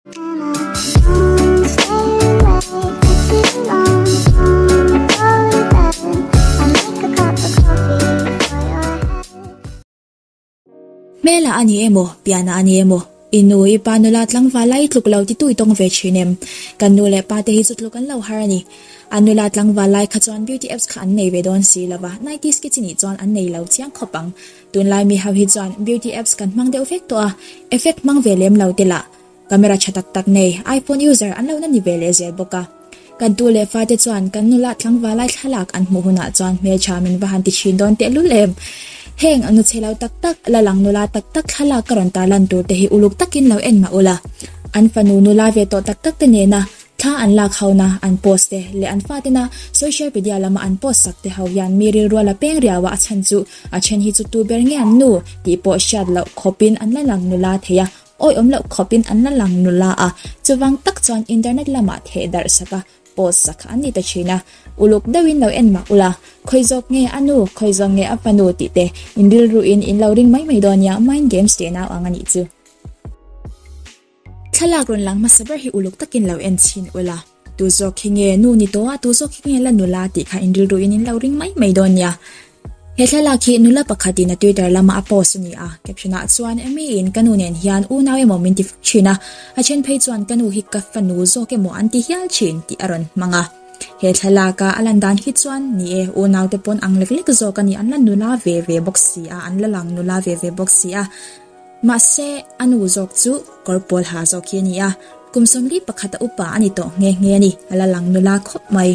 Hmel ah a ni emaw, pian ah a ni emaw, i nu, i pa nula tlangval lai tluk lo ti tui tawng ve thin em? Kan nu leh pa te hi zut luk an lo har a ni. A nula tlangval lai kha chuan beauty apps kha an nei ve dawn si lova, nineties kids i nih chuan an nei lo chiang khawp ang. Tunlai mi ho hi chuan beauty apps kan hmang deuh vek tawh a, effect hmang ve lem lo te lah camera tha tak tak nei iPhone user an lo na ni ve leh zel bawk a. Kan tu leh fate chuan kan nula tlangva lai thlalak an hmuh hunah chuan hmeltha min va han ti thin dawn teh lul em. Heng nu chelo tak tak, la lang nula tak tak thlalak ka rawn tarlan tur te hi uluk takin lo en mah ula, an fanu nula ve tawh tak tak te nena Thla an lak hona an post te leh an fa tena social media lama an post sak te ho hian mi rilruala peng riaua a chhan chu a then hi chu tu ber nge an nu tih pawh hriat loh khawpin an la lang nu la thei a, awih awm loh khawpin an la lang nu la a, chuvang tak chuan internet lama theh darh saka post sak kha an ni ta thin a, uluk deuhin lo en mah ula, khawi zawk nge a nu, khawi zawk nge a fanu tih te in rilru in in lo ring mai mai dawn nia mind games tih a nau ang a nih chu. Thlalak rawn lang hmasa ber hi uluk takin lo en chhin ula, tu zawk hi nge nu ni tawh a, tu zawk hi nge la nula tih kha inrilru in in lo ring mai mai dawn nia. He thlalak hi nula pakhat in a Twitter lama a post a ni a, caption ah chuan Amy in ka nu nen hian u nau emaw min ti fo thin a, a then phei chuan ka nu hi ka fanu zawk emaw an ti hial thin tih a rawn hmang a. He thlalak a a lan dan hi chuan ni e, u nau te pawn ang lek lek zawk a ni, an la nula ve ve bawk si a, an la lang nula ve ve bawk si a. Mahse, a nu zawk chu kawr pawl ha zawk hi a ni a, kum sawmli pakhata upa a ni tawh nghe nghe a ni, a la lang nula khawp mai.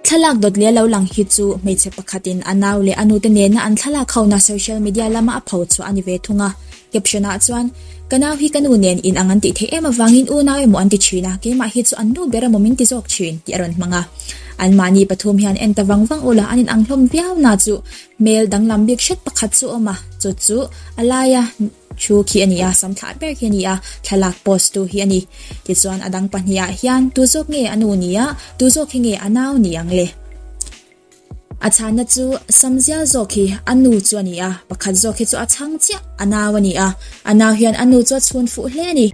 Thlalak dawt leh a lo lang hi chu hmeichhe pakhatin a nau leh a nute nena an thlalak hona social media lama a pho chhuah a ni ve thung a. Caption-ah chuan, Ka nau hi ka nu nen in ang an tih theih em avangin u nau emaw an ti thin a, keimah hi chu an nu ber emaw min ti zawk thin tih a rawn hmang a. Anmahni pathum hian en ta vang vang ula an inang hlawm viau na chu Hmel danglam bik hret pakhat chu awm a, chu chu a laia thu khi a ni a, sam thlah ber khi a ni a, thlalak post tu hi a ni. Tichuan a dang pahnih ah hian tu zawk nge a nu ni a, tu zawk hi nge a nau ni ang le? A chhanna chu sam zial zawk hi a nu chu a ni a, pakhat zawk hi chu a chhang chiah a nau a ni a, a nau hian a nu chu a chhun fuh hle a ni.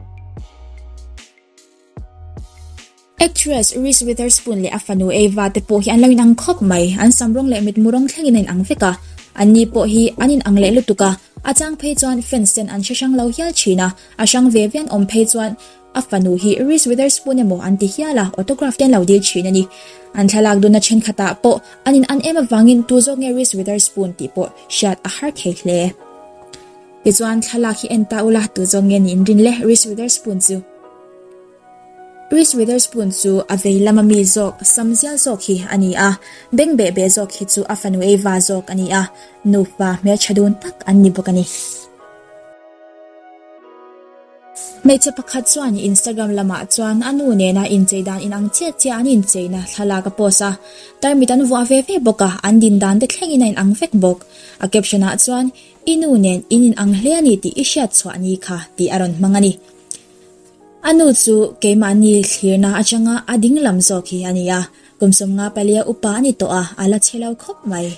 Actress Reese Witherspoon leh a fanu Ava te pawh hi an lo in ang khawp mai. An sam rawng leh mitmu rawng thlengin a in ang vek a. An ni pawh hi an in ang leh lutuk a. A chang phei chuan fans ten an hre hrang lo hial thin a. A hrang ve ve an awm phei chuan a fanu hi Reese Witherspoon emaw an ti hial a, autograph te an lo dil thin a ni. An thlalak dun na thenkhat ah pawh an in an em avangin tu zawk nge Reese Witherspoon tih pawh hriat a har thei hle. Tichuan thlalak hi en ta ula, tu zawk nge nihin rin le Reese Witherspoon chu. Reese Witherspoon chu a vei lama mi zawk sam zial zawk hi a ni a, beng beh beh zawk hi chu a fanu ei va zawk a ni a, nufa hmeltha dun tak an ni bawk a ni. Hmeichhe pakhat chuan Instagram lamah chuan a nu nena inchei dan inang chiah chiah an incheina thlalak a post a, tarmit an vuah ve ve bawk a, an din dan te thlengin a inang vek bawk. A caption ah chuan, I nu nen in inang hle a ni tih i hriat chhuah ni kha tih a rawn hmang a ni. A nu chu keimahni thlirna atanga a ding lam zawk hi a ni a, kum sawmnga palia upa a ni tawh a, a la chhe lo khawp mai.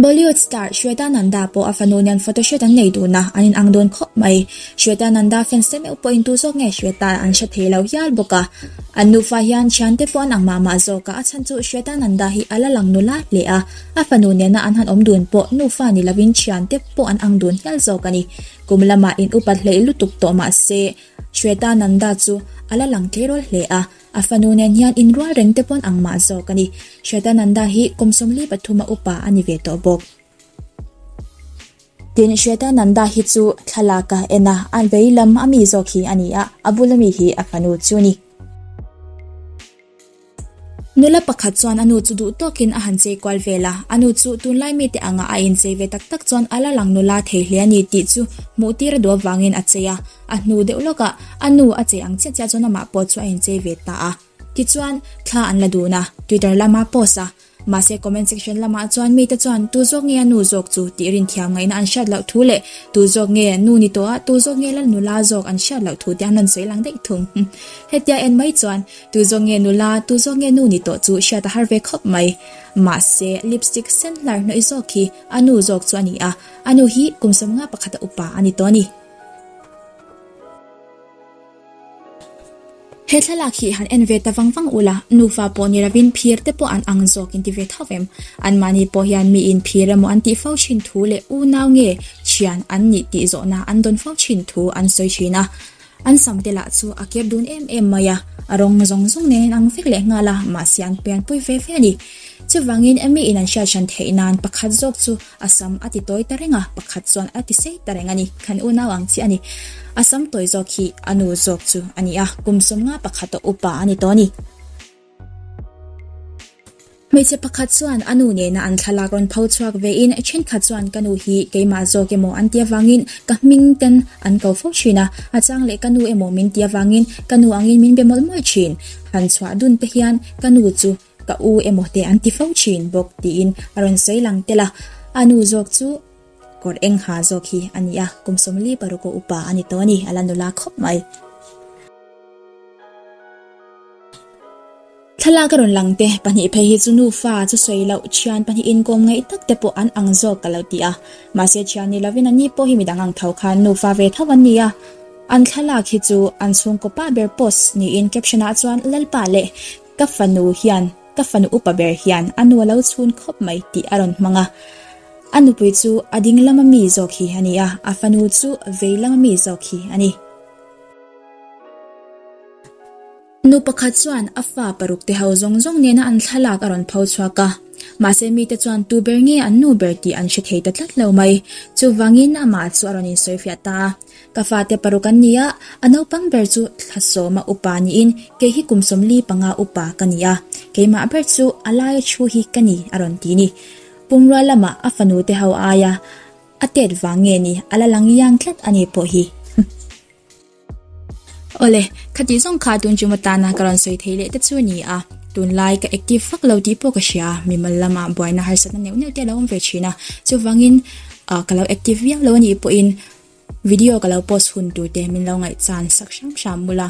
Bollywood star Shweta Nanda pawh a fanu nen photoshoot an nei tuna an inang dawn khawp mai. Shweta Nanda fans te meuh pawhin tu zawk nge Shweta an hre thei lo hial bawk a. An nufa hian thian te pawh an ang mah mah zawk a, a chhan chu Shweta Nanda hi a la lang nula hle a, a fanu nena an han awm dun pawh nufa ni lovin thian te pawh. pawh an ang dun hial zawk a ni. Kum lamah in upat hleih lutuk tawh mah se, Shwetananda chu a la lang tleirawl hle a, a fanu nen hian in rual reng te pawn ang mah zawk a ni. Shwetananda hi kum sawmli pathum a upa a ni ve tawh bawk. Tin, Shwetananda hi chu thlalak a en a, a vei lam a mi zawk hi a ni a, a bul a mi hi a fanu chu a ni. Nula pakhat chuan a nu chu duh tawkin a han chei kual vel a, a nu chu tunlai mite angah a inchei ve tak tak chuan a la lang nula thei hle a ni tih chu hmuh tir a duh avangin a chei a, a hnu deuh lawkah a nu a chei ang chiah chiah chuan amah pawh chu a inchei ve ta a. Tichuan, thla an la dun a, Twitter lama post a, Mahse comment section lamah chuan mite chuan tu zawk nge a nu zawk chu tih rin thiam ngaihna an hriat loh thu leh tu zawk nge nu ni tawh a tu zawk nge lal nula zawk an hriat loh thu te an rawn sawi lang daih thung. Hetia en mai chuan tu zawk nge nula tu zawk nge nu ni tawh chu hriat a har ve khawp mai. Mahse lipstick sen hlar hnawih zawk hi a nu zawk chu a ni a, a nu hi kum sawmnga pakhat a upa a ni tawh a ni. He thlalak hi han en ve ta vang vang ula, nufa pawh ni lovin phir te pawh an ang zawkin ti ve thauh em? Anmahni pawh hian miin phir emaw an tih fo thin thu leh unau nge thian an nih tih zawhna an dawn fo thin thu an sawi thin a. An sam te lah chu a ker dun em em mai a, a rawng zawng zawng nen an ang vek leh nghal a, mahse an pianpui ve ve a ni. Chuvangin miin an hriathrân theih nan pakhat zawk chu A sam a ti tawi ta reng a, pakhat chuan a ti sei ta reng a ni. Khan unau ang chi a ni. A sam tawi zawk hi a nu zawk chu a ni a, kum sawm nga pakhat tawh upa a ni tawh a ni. Hmeichhe pakhat chuan a nu nena an thlalak rawn pho chhuak ve in, thenkhat chuan ka nu hi keimah zawk emaw an ti avangin ka hming ten an ko fo thin a, a chang leh ka nu emaw min ti avangin ka nu angin min be mawlh mawlh thin. Han chhuah dun te hian ka nu chu Ka u emaw te an ti fo thin bawk, tiin a rawn sawi lang tel a. A nu zawk chu kawr eng ha zawk hi a ni a, kum sawm li paru kaw upa a ni tawh a ni, a la nula khawp mai. Thlalak a rawn lang te pahnih phei hi chu nufa chu sawi loh, thian pahnih inkawm ngaih tak te pawh an ang zawk ka lo ti a. Mahse thian ni lovin ani pawh hi mi dang ang tho khan nufa ve tho an ni a. An thlalak hi chu an chhungkaw pa ber post niin caption-ah chuan Lalpa leh Ka fanu hian ka fanu upa ber hian a nu a lo chhun khawp mai tih a rawn hmang a. A nupui chu a ding lama mi zawk hi a ni a, a fanu chu vei lama mi zawk hi a ni. Nu pakhat chuan a fa paruk te ho zawng zawng nena an thlalak a rawn pho chhuak a. Mahse mite chuan tu ber nge an nu ber tih an hre thei ta tlat lo mai. Chuvangin amah chu a rawn insawi fiah ta a. Ka fate paruk an ni a, a naupang ber chu Thlawsawma upa niin kei hi kum sawmli panga upa ka ni a, keimah ber chu a laia thu hi ka ni a rawn ti ni. Pumrua lamah a fanute ho a aia a tet vang nge ni, a la lang iang tlat a ni pawh hi. Awle, khatih zawng kha tun chu matana ka rawn sawi thei leh te chu a ni a, tunlai ka active vak lo tih pawh ka hria, mimal lamah buaina harsatna neuh neuh te a lo awm ve thin a, chuvangin ka lo active viau lo a nih pawhin, Video ka lo post hun tur te min lo ngaihchan sak hram hram mul a,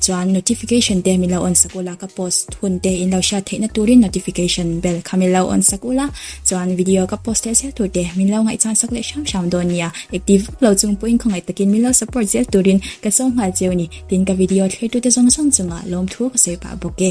chuan notification te min lo on sak ula, ka post hun te in lo hriat theihna turin notification bell kha min lo on sak ula, chuan video ka post leh zel tur te min lo ngaihchan sak leh hram hram dawn nia, active vak lo chung pawhin khawngaih takin min lo support zel turin ka sawi nghal che u ni, tin ka video thlir tute zawng zawng chungah lawmthu ka sawi pah bawk e.